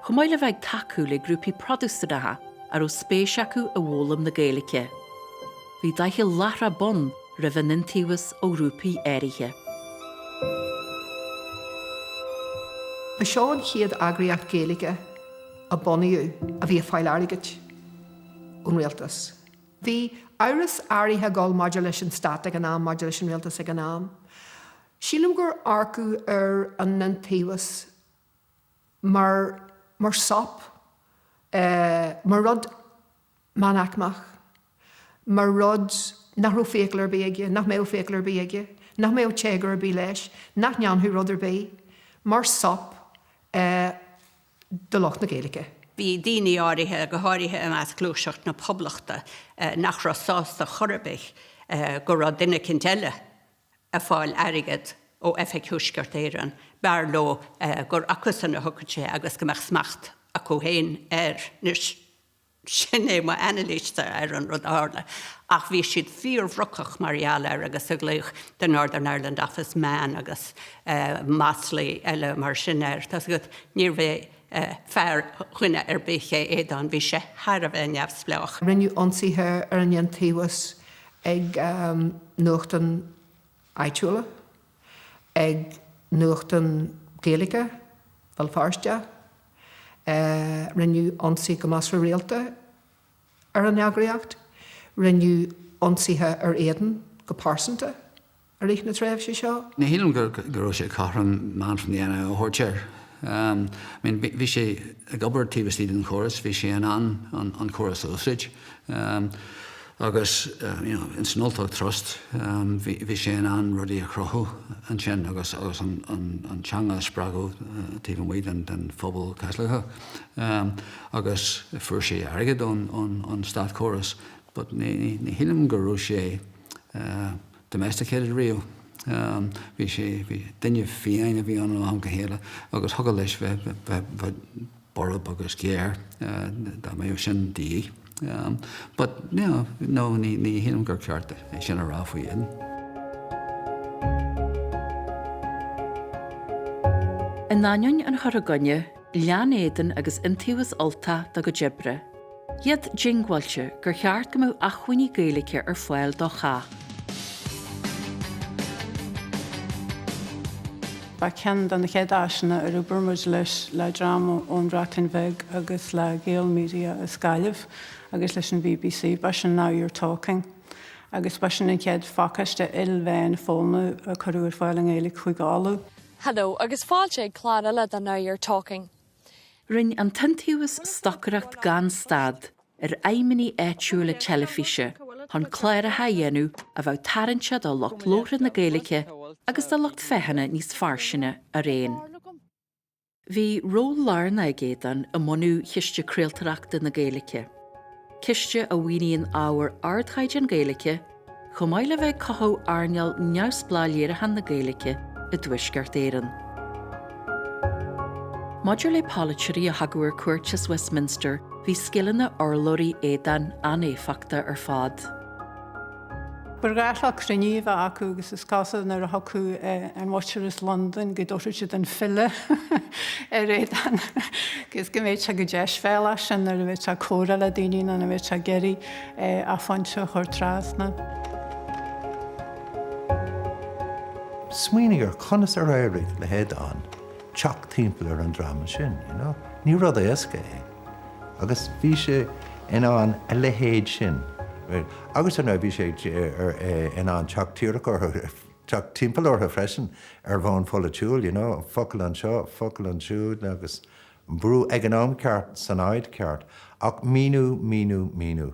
chomh maith le bheith ag tacú le grúpaí Protastúnacha a raibh spéis acu i bhfoghlaim na Gaeilge. Bhí doicheall láithreach bonn roimh an Iontaobhas ó ghrúpaí áirithe. Ba seo an chéad eagraíocht Gaeilge. a bunaíodh a bhí ag fáil airgid ón Rialtas. Bhí amhras áirithe ag dul maidir leis an Stát ag an am, maidir leis an Rialtas ag an am. Sílim gur amharcadh ar an Iontaobhas mar, mar sop, mar rud. meánaicmeach, mar rud nach raibh fiacail ar bith aige, nach mbeadh fiacail ar bith aige, nach mbeadh téagar ar bith leis, nach ndéanfadh rud ar bith mar sop do lucht na Gaeilge. Bhí daoine áirithe, go háirithe i measc gluaiseacht na poblachta, nach raibh sásta chor ar bith go raibh duine eicínt eile ag fáil airgead ó Oifig Thuaisceart Éireann, b'fhearr leo gur acusan a thiocfadh sé agus go mbeadh smacht acu féin air. Anois. Sin é mo anailís ar an rud a tharla ach bhí siad fíor-bhrocach mar gheall air agus ag glaoch The Northern Ireland Office Man agus maslaí eile mar sin air. Tá's agat, níorbh é fear dhuine ar bith é Aodán, bhí sé thar a bheith neamhspleách. Rinneadh ionsaithe ar an Iontaobhas ag nuachtáin áitiúla, ag nuachtán Gaeilge Bhéal Feirste, Rinneadh ionsaí go measartha rialta ar an eagraíocht. Rinneadh ionsaithe ar Aodán go pearsanta i rith na tréimhse seo. Ní shílim go raibh sé cothrom Man from the NIO a thabhairt air. Bhí sé ag obair taobh istigh den chóras, bhí sé in ann an córas a úsáid. Agus you know ins an Ultach Trust bhí sé in ann rudaí a chruthú ansin agus agus an teanga a spreagadh taobh amuigh den den phobal Caitliceach. Agus fuair sé airgead ón ón státchóras but ní ní shílim go raibh sé domesticated riamh. Bhí sé bhí duine fiáin a bhí ann ó am go chéile agus thiocfadh leis bheith bheith borb agus géar, dá mbéadh sin de dhíth. But you know, no, ní shílim gur ceart é sin a rá faoi Aodán. In ainneoin an chur i gcoinne, lean Aodán agus Iontaobhas Ultach dá gcuid oibre. iad diongbháilte gur cheart go mbeadh acmhainní Gaeilge ar fáil do chách. Ba cheann de na chéad áiseanna ar oibir muid leis le dream ón Bhreatain Bheag agus le Gael Media as Gaillimh agus leis an BBC, ba sin Now You're Talking. Agus ba sin an chéad phacáiste ilmheán foghlama a cuireadh ar fáil i nGaeilge Chúige Uladh. Hello agus fáilte ag clár eile de Now You're Talking. Rinne an tIontaobhas stocaireacht gan stad ar fheidhmeannaigh áitiúla teilifíse chun cláracha a dhéanamh a bheadh tarraingteach do lucht labhartha na Gaeilge agus do lucht féachana níos fairsinge araon. Bhí ról lárnach ag Aodán i mbunú Chiste Craoltóireachta na Gaeilge, ciste a mhaoiníonn ábhar ardchaighdeáin Gaeilge, chomh maith le bheith ag cothú earnáil neamhspleách léiriúcháin na Gaeilge i dTuaisceart Éireann. Maidir le polaiteoirí a thagadh ar cuairt as Westminster, bhí scileanna urlabhraí Aodáin an-éifeachtach ar fad. Ba ghnách cruinnithe a bheith acu agus is cosúil nuair a thiocfadh an mhuintir as Londain go dtabharfadh siad an file ar Aodán agus go mbéadh sé chomh deisbhéalach sin nuair a bhéadh sé ag comhrá le daoine nó nuair a bhéadh sé ag iarraidh a phointe a chur trasna. Smaoinigh ar conas ar éirigh le hAodán teacht timpeall ar an dream sin, you know? Ní rud éasca é. Agus bhí sé in ann a leithéid sin, agus ar ndóigh bhí sé in ann teacht díreach orthu, teacht timpeall orthu freisin ar bhonn pholaitiúil, you know, focal anseo, focal ansiúd agus mbrú ag an am ceart san áit cheart ach míniú, míniú, míniú.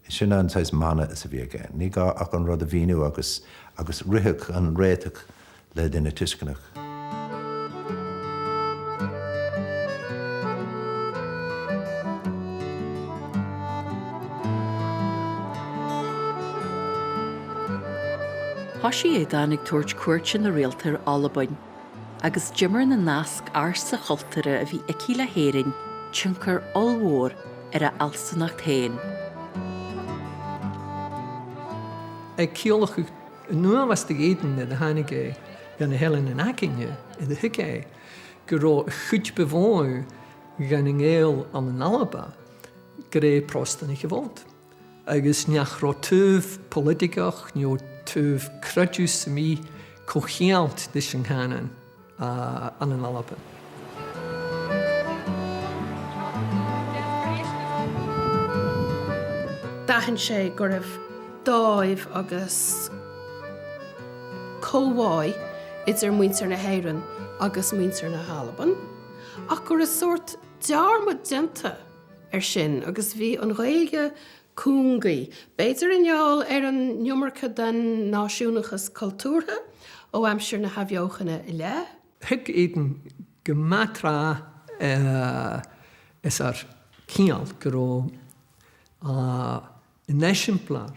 Sin an saghas mana is a bhí aige. Ní gá ach an rud a mhíniú agus, agus rithfeadh an réiteach le duine tuisceanach. Thoisigh Aodán ag tabhairt cuairteanna rialta ar Albain. agus d'imir na nasc ársa chultúrtha a bhí aici le hÉirinn tionchar ollmhór ar a fhealsúnacht féin. A' gcialladh chan iongnadh bh' air Aodán nuair a tháinig e dha na h-eileanan againne 's a thuig e gu robh a' chuid bu mhotha dhe na Gàidheil ann an Alba, gur e Pròstanaich a bh' annta. agus nach robh taobh poilitigeach no taobh creideimh sam bith co-cheangailte leis a' chànan ann an Alba. D'aithin sé go raibh dáimh agus comhbhá idir muintir na hÉireann agus muintir na hAlban ach go raibh sórt dearmad déanta ar sin agus bhí an Ghaeilge cúngaí, b'fhéidir i ngeall ar an iomarca den náisiúnachas cultúrtha ó aimsir na hathbheochana i leith. Thuig Aidan gu math tràth 's air ciall gu robh an eisimpleir.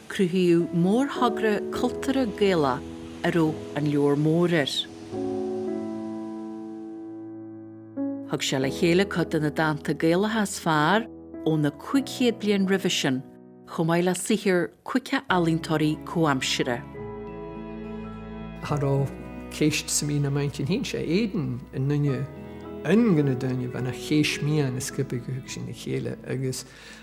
Cruthaíodh mórthogra cultúrtha Gaelach a raibh An Leabhar Mór air. Thug sé le chéile cuid de na dánta Gaelacha is fearr ó na 1500 bliain roimhe sin, chomh maith le saothar cuid de ealaíontóirí comhaimsire. cha robh ceist sam bith nam inntinn fhèin 's e Aodán an duine an aon duine bha na theis-meadhan an sgioba thug sinn ri chèile agus.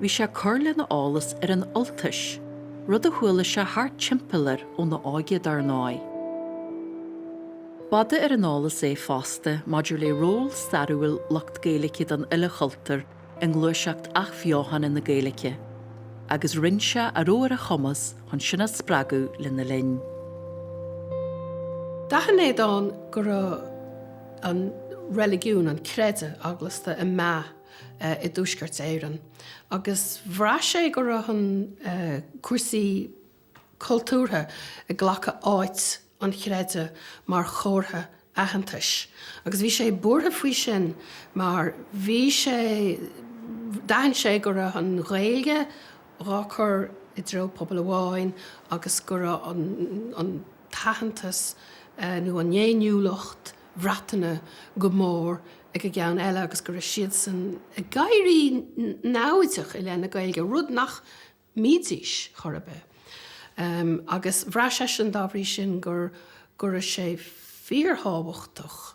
Bhí sé ag cur lena eolas ar an Ultais, rud a chuala sé thart timpeall air óna óige dar ndóigh. B'fhada ar an eolas é fosta maidir le ról stairiúil lucht Gaeilge den uile chultúr i ngluaiseacht athbheochana na Gaeilge, agus rinne sé a raibh ar a chumas chun sin a spreagadh lena linn. D'aithin Aodán go raibh an reiligiún, an creideamh eaglasta ag meath. i dTuaisceart Éireann agus bhraith sé go raibh cúrsaí cultúrtha ag glacadh áit an chreidimh mar chomhartha aitheantais agus bhí sé buartha faoi sin mar bhí sé d'aithin sé go raibh an Ghaeilge dhá cur i dtreo pobal amháin agus go raibh an t-aitheantas nó an fhéiniúlacht Bhriotanach go mór ag an gcionn eile agus go raibh siadsan ag éirí namhaideach i leith na Gaeilge, rud nach mbídís chor ar bith. Agus bhraith seisean, dá bhrí sin, go raibh sé fíorthábhachtach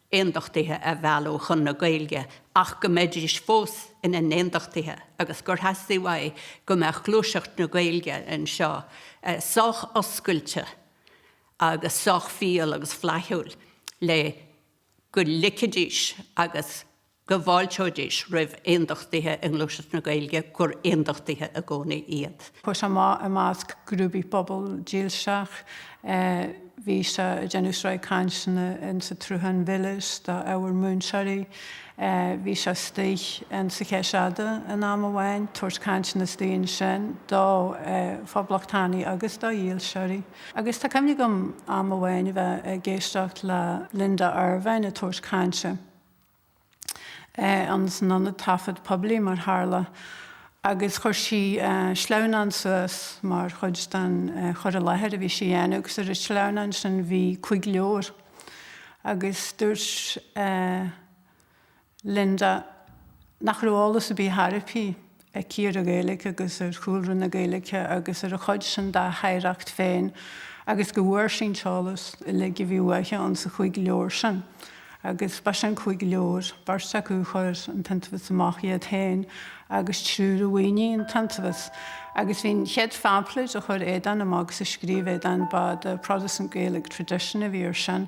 aondachtaithe a mhealladh chun na Gaeilge ach go mbeidís fós ina n-aondachtaithe agus gur theastaigh uaidh go mbeadh gluaiseacht na Gaeilge anseo sách oscailte agus sách fial agus flaithiúil le go ligfidís agus go bhfáilteoidís roimh aondachtaithe i ngluaiseacht na Gaeilge, gur aondachtaithe i gcónaí iad. Cuir i gcás, i measc grúpaí pobail dílseach, bhí sé ag déanamh sraith cainteanna in sa tSruthán Mhilis do ábhair múinteoirí. Bhí sé istigh in sa Cheis Fhada in am amháin, ag tabhairt cainteanna istigh ansin do phoblachtánaigh agus do dhílseoirí. Agus tá cuimhne agam am amháin a bheith ag éisteacht le Linda Ervine ag tabhairt cainte, in san Ionad Taifead Poiblí, mar tharla, agus chuir sí sleamhnán suas mar chuid den chur i láthair a bhí sí a dhéanamh agus ar an sleamhnán sin bhí cúig leabhar agus dúirt Linda nach raibh eolas ar bith tharbhí aici ar an Ghaeilge agus ar chúlra na Gaeilge agus ar a chuid sin dá hoidhreacht féin agus go bhfuair sí an t-eolas uilig a bhí uaithe in sa chúig leabhar sin. Agus ba sin an cúig leabhar. Beirt acu a chuir an t-iontaobhas amach iad féin agus triúr a mhaoinigh an t-iontaobhas. Agus bhí, an chéad phaimfléid a chuir Aodán amach agus a scríobh Aodán, ba The Protestant Gaelic Tradition a bhí ar sin.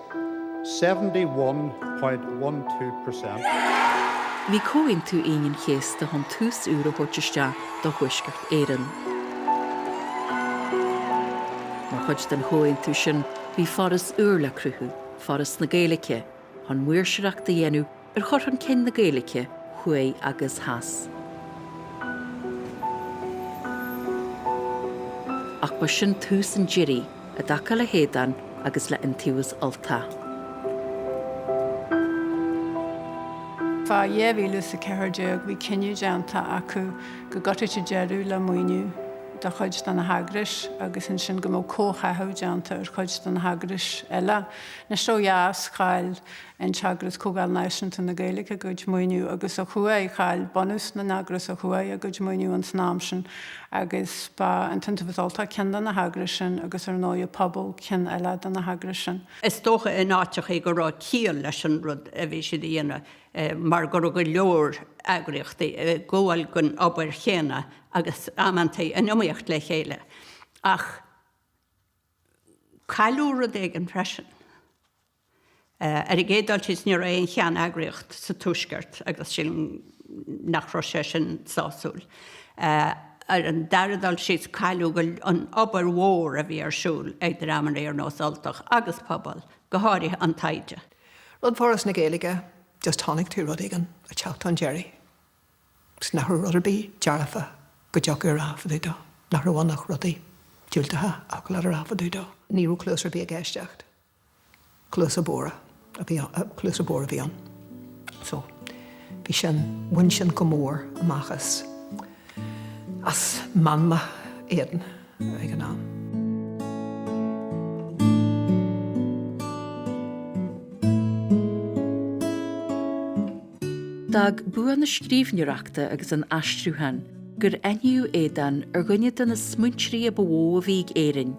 71.12 per cent. Bhí Comhaontú Aoine an Chéasta chun tús úr a thabhairt isteach do Thuaisceart Éireann. Mar chuid den chomhaontú sin bhí foras úr le cruthú, Foras na Gaeilge, chun maoirseoireacht a dhéanamh ar chur chun cinn na Gaeilge thuaidh agus theas. Ach ba sin tús an deiridh i dtaca le hAodán agus le Iontaobhas Ultach. Fá 2014 bhí cinneadh déanta acu go gcuirfidís deireadh le maoiniú do chuid de na heagrais agus ansin go mbeadh comhtháthú déanta ar chuid de na heagrais eile. Anois ó dheas chaill an t-eagras Comhdháil Náisiúnta na Gaeilge a gcuid maoiniú agus ó thuaidh, chaill bunús na n-eagras ó thuaidh a gcuid maoiniú ins an am sin agus ba an tIontaobhas Ultach ceann de na heagrais sin agus ar ndóigh Pobal ceann eile de na heagrais sin. Is dócha in áiteachaí go raibh ciall leis an rud a bhí siad a dhéanamh mar go raibh go leor eagraíochtaí ag gabháil den obair chéanna agus amantaí in iomaíocht le chéile ach cailleadh rud éigin freisin. Ar an gcéad dul síos, ní raibh aon cheanneagraíocht sa Tuaisceart agus sílim nach raibh sé sin sásúil. Ar an dara dul síos, cailleadh an obair mhór a bhí ar siúl ag dreamanna ar nós Ultach agus Pobal, go háirithe an taighde. Rud Foras na Gaeilge, just chonaic tú rud éigin ag teacht chun deiridh agus nach raibh rud ar bith dearfa go dtiocfadh a rá fá dtaobh dó, nach raibh ann ach rudaí diúltacha a thiocfadh leat a rá fá dtaobh dó. Ní raibh cluas ar bith ag éisteacht. Cluasa bodhra a bhí ann. So, bhí sin, bhain sin go mór amach as, as meanma Aodáin ag an am. D'fhág bua na scríbhneoireachta agus an aistriúcháin gur aithníodh Aodán ar dhuine de na smaointeoirí a ba mhó a bhí ag Éirinn,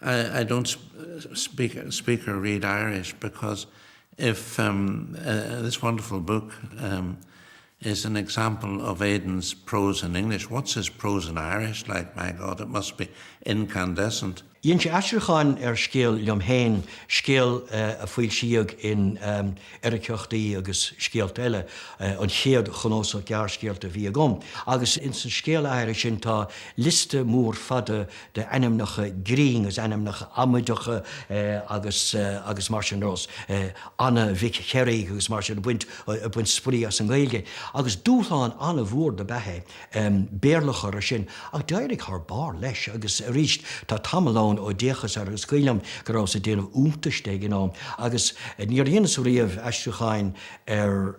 I, I don't speak, speak or read Irish because if um, uh, this wonderful book um, is an example of Aodán's prose in English, what's his prose in Irish like? My God, it must be incandescent. Dhein sé aistriúchán ar scéal liom féin, scéal a foilsíodh in Eiriceachtaí agus Scéalta Eile, an chéad chnuasach gearrscéalta a bhí agam, agus ins an scéal áirithe sin tá liosta mór fada de ainmneacha grinn agus ainmneacha amaideacha agus agus mar sin nós, Anna Mhic Chearraigh agus mar sin, ag baint spraoi as an nGaeilge agus dúshlán an-mhór dob ea é Béarla a chur air sin ach d'éirigh thar barr leis agus arís tá tamall ann ó d'fhéachas air agus cuimhním go rabhas ag déanamh iontais de ag an am agus níor dheineas riamh aistriúcháin ar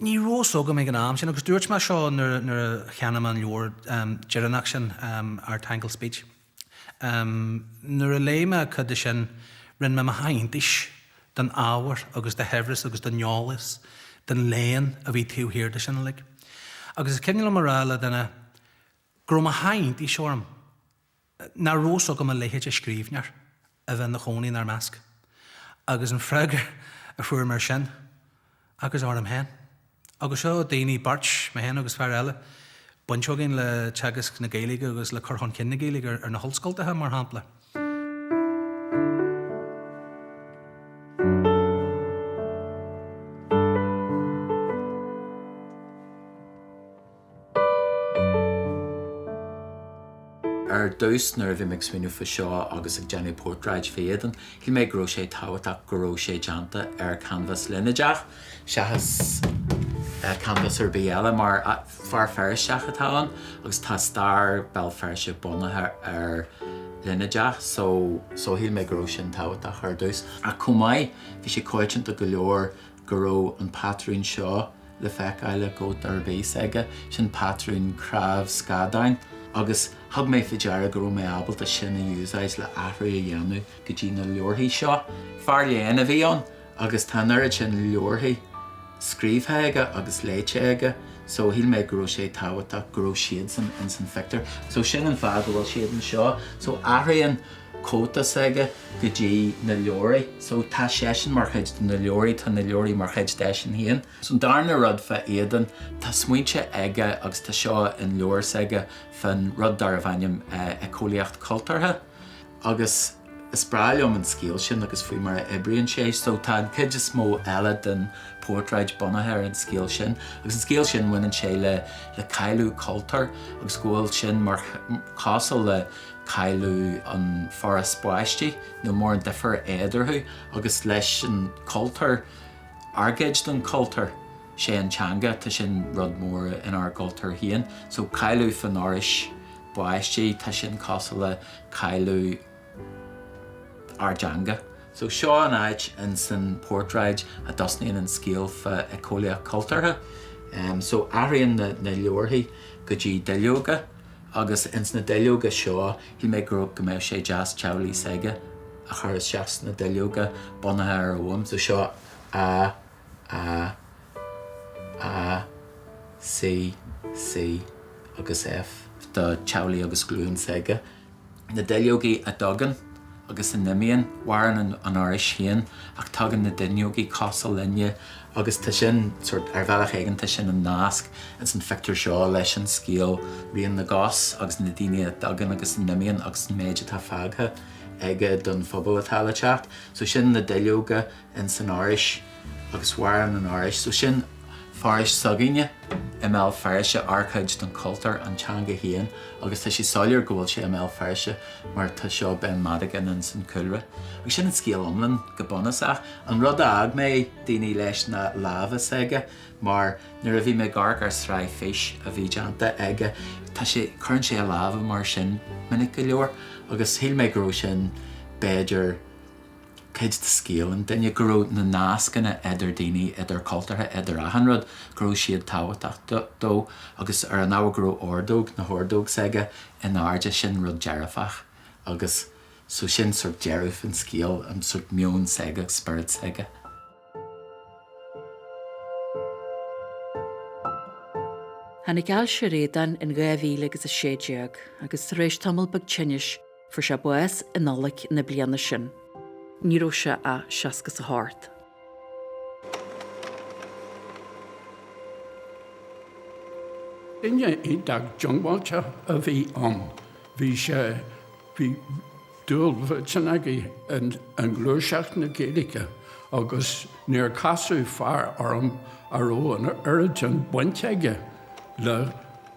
Ní raibh fhios agam ag an am sin agus dúirt mé seo nuair a cheannaigh mé an leabhar deireanach sin, Our Tangled Speech. Nuair a léigh mé cuid de sin, rinne mé mo sháith iontais den ábhar agus de shaibhreas agus den eolas, den léann a bhí taobh thiar de sin uilig. Agus is cuimhin liom a rá le duine go raibh mo sháith iontais orm. nárbh eol go mbeadh a leithéid de scríbhneoir a bheith ina chónaí inár measc. Agus an freagra a fuair mé ar sin, agus uaim féin. Agus seo daoine beirt, mé féin agus fear eile, baint againn le teagasc na Gaeilge agus le cur chun cinn na Gaeilge ar na hollscoltacha, mar shampla. Ar dtús, nuair a bhí mé ag smaoineamh faoi seo agus ag déanamh portráid d'Aodán, shíl mé go raibh sé tábhachtach go raibh sé déanta ar chanbhás línéadach, seachas canbhás ar bith eile, mar fear Feirsteach atá ann agus tá stair Bhéal Feirste bunaithe ar línéadach, so, shíl mé go raibh sin tábhachtach ar dtús. Ach chomh maith, bhí sé coitianta go leor go raibh an patrún seo le feiceáil i gcóta a bhíodh aige, sin patrún cnámh scadáin, agus thug mé fá deara go raibh mé ábalta sin a úsáid le athrú a dhéanamh go dtí na leabharthaí seo. Fear léinn a bhí ann agus tá an oiread sin leabharthaí scríobhtha aige agus léite aige so shíl mé go raibh sé tábhachtach go raibh siadsan ins an phictiúr so sin an fáth go bhfuil siad anseo. So athraíonn. cóta s'aige go dtí na leabhraí. So tá seisean mar chuid de na leabhraí, tá na leabhraí mar chuid de eisean féin. So an darna rud fá Aodán, tá smaointe aige agus tá seo in leabhar s'aige fán rud darb ainm eiceolaíocht cultúrtha. Agus is breá liom an scéal sin agus faoi mar a oibríonn sé. So tá an cuid is mó eile den portráid bunaithe ar an scéal sin. Agus an scéal sin baineann sé le cailleadh cultúir agus go bhfuil sin mar cosúil le. cailleadh an fhoraois báistí níl mórán difear éadarthu agus leis an cultúr, ár gcuid den cultúr, sé an teanga, tá sin rud mór inár gcultúr féin. So cailleadh fán fhoraois báistí, tá sin cosúil le cailleadh ár dteanga. So seo an áit ins an portráid a dtosnaíonn an scéal fá éiceolaíocht cultúrtha. So athraíonn na leabharthaí go dtí duilleoga Agus ins na duilleoga seo, shíl mé go raibh, go mbeadh sé deas teaghlach s'aige a chur isteach sna duilleoga bunaithe ar Ogham. So seo A A A C C agus F. do teaghlach agus clann s'aige. na duilleogaí a dtagann agus a n-imíonn, maireann an fhoraois féin ach tagann na duilleogaí, cosúil linne agus tá sin sort, ar bhealach éigin tá sin an nasc ins an phictiúr seo leis an scéal Rian na gCos agus na daoine a dtagann agus a n-imíonn agus an méid atá fágtha aige don phobal atá le teacht. So sin na duilleoga. ins an fhoraois agus mhaireann an fhoraois so sin foraois s'againne i mBéal Feirste ár chuid don chultúr an teanga féin agus tá sé soiléir go bhfuil sé i mBéal Feirste mar tá seo Ben Madigan ins an cúlra agus sin an scéal iomlán go bunúsach. An rud a fhág mé daoine leis ná lámha s'aige mar nuair a bhí mé ag amharc ar sraith Fís a bhí déanta aige tá sé cuireann sé a lámha mar sin minic go leor agus shíl mé go raibh sin b'fhéidir cuid de scéal an duine, go raibh na nascanna idir daoine, idir cultúrtha, idir achan rud, go raibh siad tábhachtach dó agus ar an ábhar go raibh ordóg, na hordóg s'aige in airde, sin rud dearfach agus so sin sórt deireadh an scéal, an sórt meon s'aige, spiorad s'aige. Tháinig ailse ar Aodán in 2016 agus tar éis tamall beag tinnis, Fuair sé bás i Nollaig na bliana sin. Ní raibh sé ach seasca 's a hocht. Duine iontach diongbháilte a bhí ann. Bhí sé, bhí dúil mhillteanach aige i ngluaiseacht na Gaeilge agus níor casadh fear orm a raibh an oiread sin bainte aige le,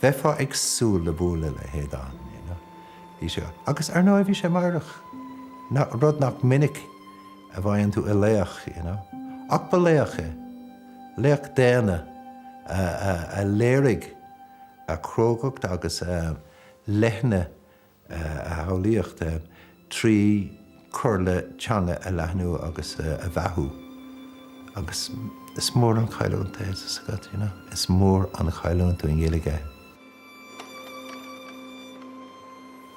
Bheifeá ag súil le bualadh le hAodán, you know. Bhí sé, agus ar ndóigh bhí sé meidhreach, rud nach minic a bhfaigheann tú i laoch, you know. Ach ba laoch é. Laoch daonna a léirigh a chrógacht agus a leithne a shamhlaíocht trí chur le teanga a leathnú agus a bheathú agus is mór an chailliúint é tá a fhios agat, you know, is mór an chailliúint don Ghaeilge é.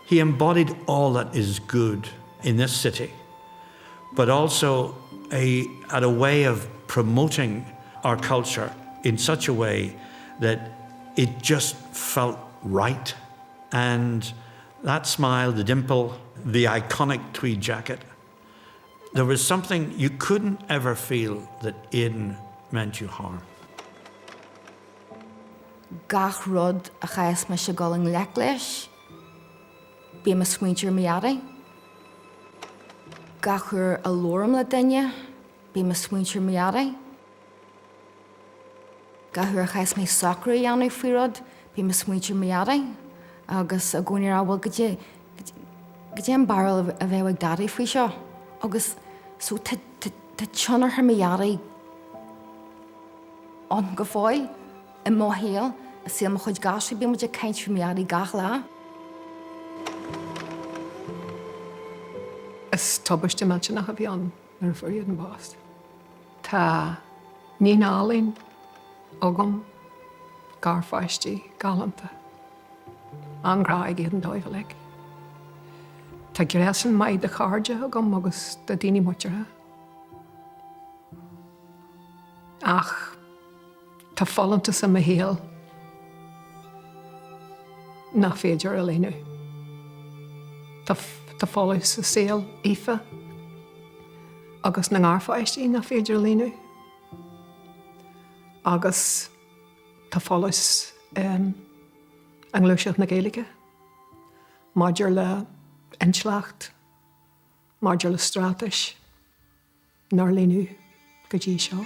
He embodied all that is good in this city but also he had a way of promoting our culture in such a way that it just felt right. And that smile, the dimple, the iconic tweed jacket, there was something you couldn't ever feel that Aodán meant you harm. Gach rud a chaithfeas mise dul i ngleic leis, bíonn mo smaointe ar mo dhaidí. Gach uair a labhraím le duine, bíonn mo smaointe ar mo dhaidí. Gach uair a chaithfeas mé socrú a dhéanamh faoi rud, bím ag smaointiú ar mo Dhaidí agus i gcónaí ag rá, 'bhuel, goidé, goidé an barúil a bheadh ag Daidí faoi seo? Agus so tá, tá, tá tionchar mo Dhaidí ann go fóill i mo shaol, i saol mo chuid gasúr, bíonn muid ag caint faoi mo Dhaidí gach lá. Is tubaiste millteanach a bhí ann. go bhfuair Aodán bás. Tá níon álainn agam, garpháistí galánta, an-ghrá ag Aodán dóibh uilig. Tá gréasán maith de chairde agam agus de daoine muinteartha. Ach. Tá folúntas i mo shaol nach féidir a líonadh. Tá folús i saol Aoife agus na ngarpháistí nach féidir a líonadh. Agus tá folús i ngluaiseacht na Gaeilge maidir le intleacht, maidir le straitéis. nár líonadh go dtí seo.